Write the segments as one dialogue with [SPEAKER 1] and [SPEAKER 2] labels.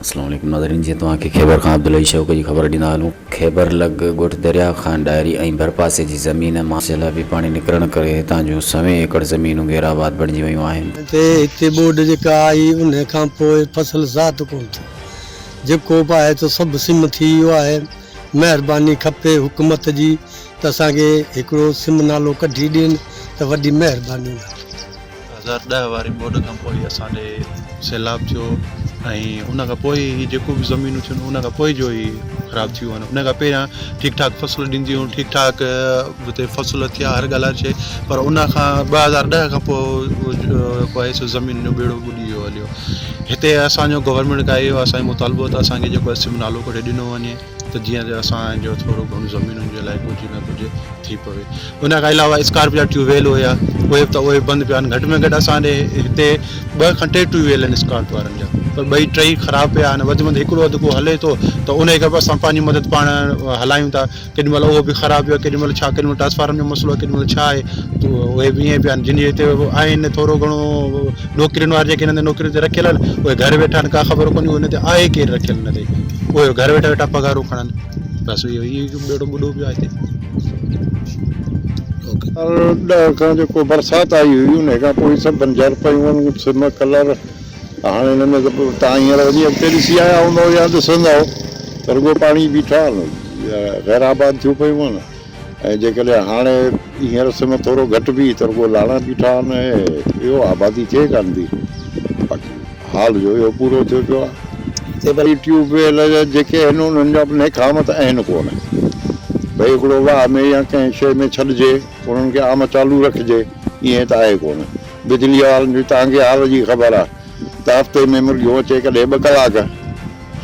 [SPEAKER 1] اسلام عليڪم ناظرين جيئن توهان کي خيبر کان عبدالحي شوق جي خبر ڏيندا هلون خيبر لڳ ڳوٺ دريا خان ڏاهري ۽ ڀرپاسي جي زمين مان سيلابي پاڻي نڪرڻ ڪري هتان جون سوين ايڪڙ زمينون غيرآباد بڻجي ويون آهن. تي هتي ٻوڏ
[SPEAKER 2] جيڪا آئي ان کان پوء فصل ذات ڪون ٿيو جيڪو به آهي تو سڀ سم ٿي ويو آهي مهرباني کپي حڪومت جي ته اسان کي هڪڙو سم نالو ڪڍي ڏين ته وڏي مهرباني آهي. هزار
[SPEAKER 3] ڏهه واري ٻوڏ کان پوء اسان ڏي سيلاب ٿيو ۽ ان کان پوء هي جيڪو به زمينون ٿيون ان کان پوء جو هي خراب ٿيون آهن ان کان پهريان ٺيڪ ٺاڪ فصل ڏينديون هيون ٺيڪ ٺاڪ هتي فصل ٿيا هر ڳالهه هر شيء پر ان کان ٻه هزار ڏهه کان پوء جيڪو آهي سو زمين جو ٻيڙو ٻڏي ويو هليو هتي اسانجو گورنمينٽ کان اهو اسانجو مطالبو ته اسانکي جيڪو اسم نالو ڪڍي ڏنو وڃي ته جيئن جو اسان جو ٿورو گهڻو زمينن جي لاء ڪجهه نه ڪجهه ٿي پوي. ان کان علاوه اسڪارپ جا ٽيوب ويل هيا اهي ته اهي بند پيا آهن گهٽ ۾ گهٽ اسان ڏي هتي ٻه کن ٽي ٽيوب ويل آهن اسڪارپ وارن جا پر ٻئي ٽئي خراب پيا آهن وڌ ۾ وڌ هڪڙو اڌ ڪو هلي ٿو ته انهي کي به اسان پنهنجي مدد پاڻ هلايون ٿا ڪيڏي مهل اهو به خراب پيو آهي ڪيڏي مهل ڇا ڪيڏي مهل ٽرانسفارم جو مسئلو آهي ڪيڏي مهل ڇا آهي اهي به ائين پيا آهن جن جي هتي آهن ٿورو گهڻو نوڪرين وارا جيڪي هن هنڌ نوڪرين تي رکيل آهن اهي گهر ويٺا آهن ڪا خبر ڪونهي هن هنڌ آهي ڪير رکيل هن تي اهي گهر ويٺا ويٺا پگهارون کڻن بس اهو هي ٻيڙو ٻڏو پيو آهي هتي
[SPEAKER 4] ڏهه کان جيڪو برسات آئي هئي ان کان پوء سڀ بنجر پيون آهن سم ڪلر هاڻي هن ۾ ته تان هينئر وڃي اڳتي ڏسي آيا هوندو يا ڏسندو رڳو پاڻي بيٺا آهن غير آباد ٿيون پيون آهن ۽ جيڪڏهن هاڻي هينئر سم ٿورو گهٽ به ته رڳو لاڙا بيٺا آهن ۽ ٻيو آبادي ٿئي ڪانه ٿي باقي حال جو اهو پورو ٿيو پيو آهي. هتي وري ٽيوب ويل جيڪي آهن انهن جا به نيڪامت آهن ڪونه ڀئي هڪڙو واهه ۾ يا ڪنهن شيء ۾ ڇڏجي انهن کي عام چالو رکجي ايئن ته آهي ڪونه بجليء وارن جي تهانکي حال جي خبر آهي ته هفتي ۾ مرغيون اچي ڪڏهن ٻه ڪلاڪ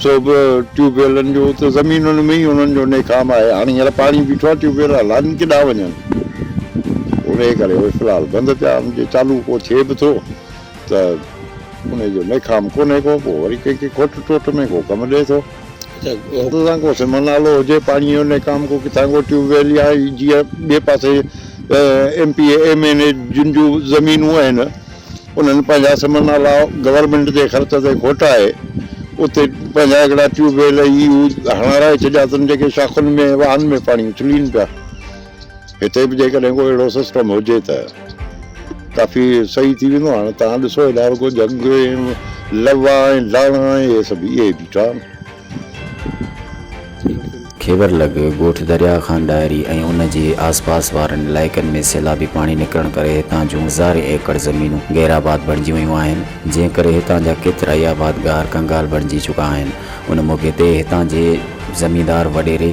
[SPEAKER 4] سو به ٽيوب ويلن جو ته زمينن ۾ ئي انهن جو نيڪام آهي هاڻي هينئر پاڻي بيٺو آهي ٽيوب ويل هلائن ڪيڏانهن وڃن انهي ڪري اهي في الحال بند پيا آهن جي چالو ڪو ٿئي به ٿو ته انهي جو نيڪام ڪونهي ڪو پوء وري ڪنهن کي کوٽ ٽوٽ ۾ ڪو ڪم ڏئي ٿو هت سان ڪو سم نالو هجي پاڻي جو نيڪام ڪو ڪٿان ڪو ٽيوب ويل يا جيئن ٻئي پاسي M P M N A جن جون زمينون آهن انهن پنهنجا سمن نالا گورنمينٽ جي خرچ تي کوٽائي اتي پنهنجا هڪڙا ٽيوب ويل هي هو هڻارائي ڇڏيا اٿن جيڪي شاخن ۾ واهن ۾ پاڻي اڇلين پيا. هتي به جيڪڏهن ڪو اهڙو سسٽم هجي ته ڪافي صحيح ٿي ويندو. هاڻ توهان ڏسو هيڏانهن رڳو جهنگ ۽ لوا ۽ لاڻا ۽ اهي سڀ اهي بيٺا آهن.
[SPEAKER 1] کيور لڳ ڳوٺ درياهه خان ڏاهري ۽ ان جي آس پاس وارن علائقن ۾ سيلابي پاڻي نڪرڻ ڪري هتان جون هزارين ايڪڙ زمينون غير آباد بڻجي ويون آهن جنهن ڪري هتان جا ڪيترائي آبادگار ڪنگال بڻجي چڪا آهن ان موقعي تي هتان جي زميندار وڏيري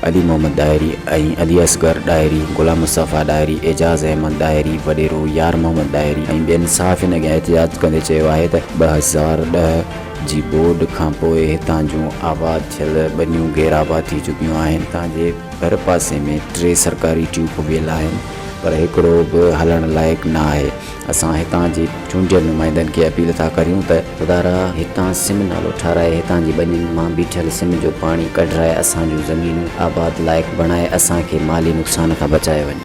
[SPEAKER 1] علي محمد ڏاهري ۽ علي اصغر ڏاهري، غلام مصطفيٰ ڏاهري، اعجاز احمد ڏاهري، وڏيرو يار محمد ڏاهري ۽ ٻين صحافين اڳيان احتجاج ڪندي چيو آهي ته ٻه هزار ڏهه جي ٻوڏ کانپوء هتان جون آباد ٿيل ٻنيون غير آباد ٿي چڪيون آهن، هتان جي ڀرپاسي ۾ ٽي سرڪاري ٽيون ڪويل آهن پر هڪڙو به هلڻ لائق ناهي. اسان هتان جي چونڊيل نمائندن کي اپيل ٿا ڪريون ته خدارا هتان سم نالو ٺاراهي هتان جي ٻنين مان بيٺل سم جو پاڻي ڪڍرائي اسان جون زمينون آباد لائق بڻائي اسان کي مالي نقصان کان بچايو وڃي.